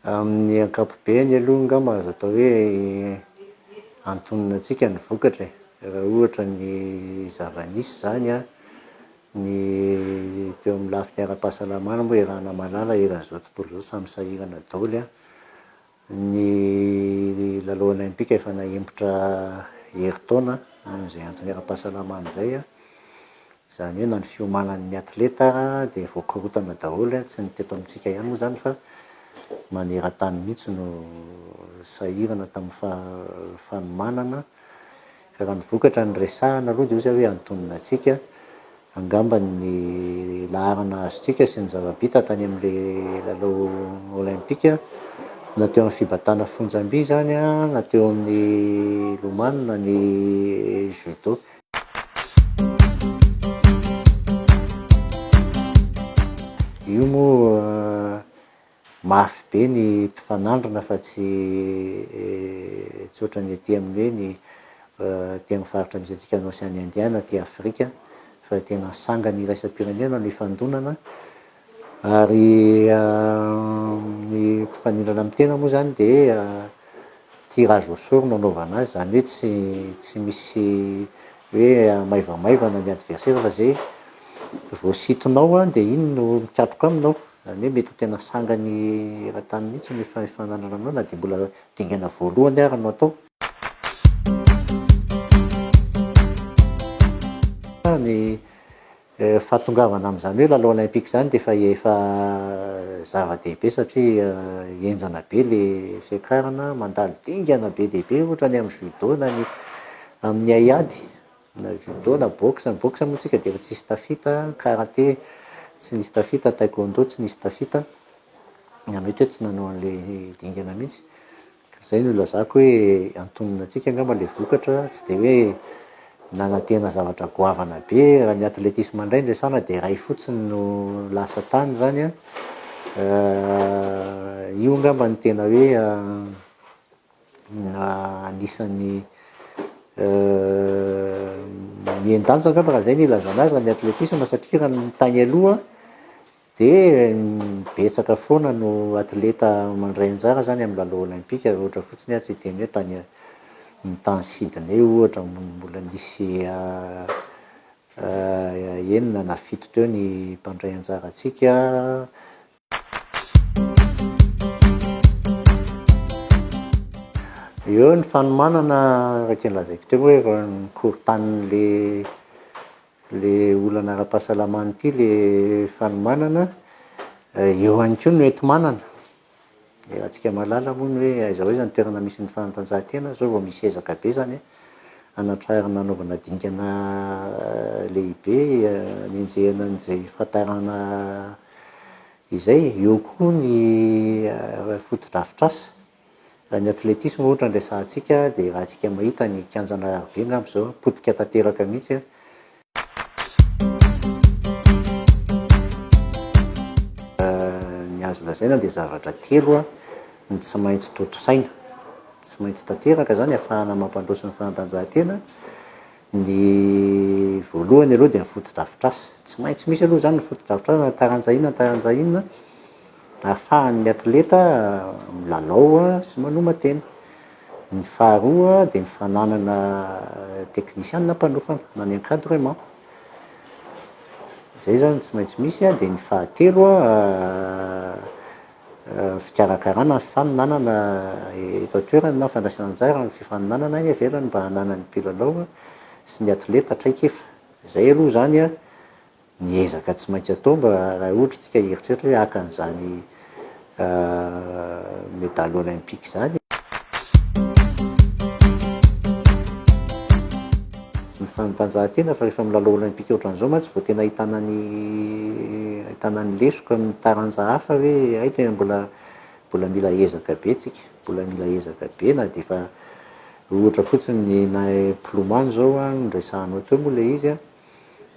Amin'ny ankapobeny aloha angamba azo atao hoe antonona antsika ny vokatra e, raha ohatra ny zava-nisy izany an. Ny teo amin'ny lafiny ara-pahasalamana moa i Ranamalala eran'izao tontolo izao samy sahirana daholo an! Ny lalao olaimpika efa nahemotra herintaona noho izay antony ara-pahasalamana izay an! Izany hoe na ny fiomanan'ny atleta ara dia voakorontana daholo an! Tsy ny teto amintsika ihany moa izany fa maneran-tany mihitsy no sahirana tamin'ny faha- fanomanana. Raha ny vokatra no resahana aloha dia ozy aho hoe antonona antsika angamba ny laharana azontsika sy ny zava-bita tany amin'ilay lalao Olaimpika na teo amin'ny fibatana fonjam-by izany na teo amin'ny lomano na ny Judo. Io moa mafy be ny mpifanandrina fa tsy tsotra ny aty amin'ny hoe ny aty amin'ny faritra misy antsika any Oseana Indiana aty Afrika fa tena sangany iraisam-pirenena no ifandonana ary ny mpifanindrana amin'ny tena moa izany dia tirage au sort no anaovana azy izany hoe tsy tsy misy hoe maivamaivana ny adversaire fa izay voasintonao dia iny no mikatroka aminao. Zany hoe mety ho tena sangan'i Ratany mihitsy ny fifanandrinana aminao na dia mbola dingana voalohany ara no atao. Ny fahatongavana amin'izany hoe lalao olympique izany dia efa efa zava-dehibe satria henjana be ilay fiakarana, mandalo dingana be dia be ohatra ny amin'ny judo na ny amin'ny haiady. Na judo na boxe, ny boxe moa tsika dia efa tsy nisy tafita, karate tsy nisy tafita, taekwondo tsy nisy tafita, na mety hoe tsy nanao an'ilay dingana mihitsy. Ka izay no ilazako hoe antonona antsika angamba ilay vokatra, tsy dia hoe nanantena zavatra goavana be. Raha ny athlétisme indray no resahana dia iray fotsiny no lasa tany izany an. Io angamba no tena hoe. anisan'ny mihen-danja angamba raha zay ny ilazana azy raha ny atletisma satria raha ny tany aloha de betsaka foana no atleta mandray anjara zany amin'ny lalao olaimpika raha ohatra fotsiny aho tsy hiteny hoe tany ny tany Sydney ohatra mbola nisy enina na fito teo ny mpandray anjara antsika. Eo ny fanomanana araka ny lazaiko teo hoe efa nikorontan'le le olana ara-pahasalamana ity le fanomanana, eo ihany koa ny hoenti-manana. Dia raha tsika mahalala moa ny hoe aiza ho aiza ny toerana misy ny fanatanjahantena, izao vao misy ezaka be izany an, hanatrarana hanaovana dingana lehibe hanenjehana an'izay fahatarana izay, eo koa ny fotodrafitrasa, raha ny atletisma ohatra no resahantsika dia raha tsika mahita ny kianjan'Araribe angamba izao potika tanteraka mihitsy an, Ny azo lazaina dia zavatra telo no tsy maintsy tontosaina, tsy maintsy tanteraka izany ahafahana mampandroso ny fanatanjahantena, ny voalohany aloha dia ny fotodrafitrasa, tsy maintsy misy aloha izany ny fotodrafitrasa na taranja inona na taranja inona, Ahafahan'ny atleta milalao sy manoman-tena. Ny faharoa dia ny fananana teknisiana mpanofana na ny encadrement. Izay izany tsy maintsy misy an, dia ny fahatelo fikarakarana ny faninanana eto an-toerana na fandraisana anjara amin'ny fifaninanana any ivelany mba hananan'ny mpilalao sy ny atleta traikefa. Izay aloha izany an. ny ezaka tsy maintsy atao mba raha ohatra isika hieritreritra hoe haka an'izany medaly olympique izany. Ny fanatanjahantena fa rehefa milalao olympique ohatran'izao mantsy vao tena ahitana ny ahitana ny lesoka amin'ny taranja hafa hoe hay tena mbola mbola mila ezaka be tsika, mbola mila ezaka be na dia efa ohatra fotsiny ny na mpilomano izao an, resahanao teo moa ilay izy an,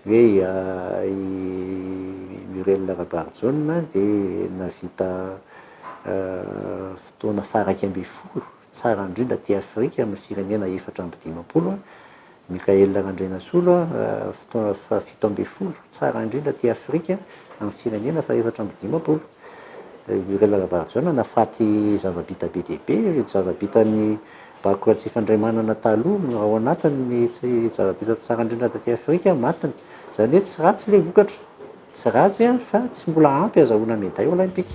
Hoe i Muriel Rabarijaona dia nahavita fotoana faha iraika ambin'ny folo tsara indrindra aty Afrika amin'ny firenena efatra amby dimampolo. Michael Randrianasolo, fotoana faha fito ambin'ny folo tsara indrindra aty Afrika amin'ny firenena faha efatra amby dimampolo. I Muriel Rabarijaona nahafaty zava-bita be dia be, zava-bitan'ny Bakoka tsy fandray manana taloha no ao anatiny ny tsy zava-bita tsara indrindra taty Afrika matiny. Izany hoe tsy ratsy ilay vokatra. Tsy ratsy fa tsy mbola ampy azahoana medaille olympique.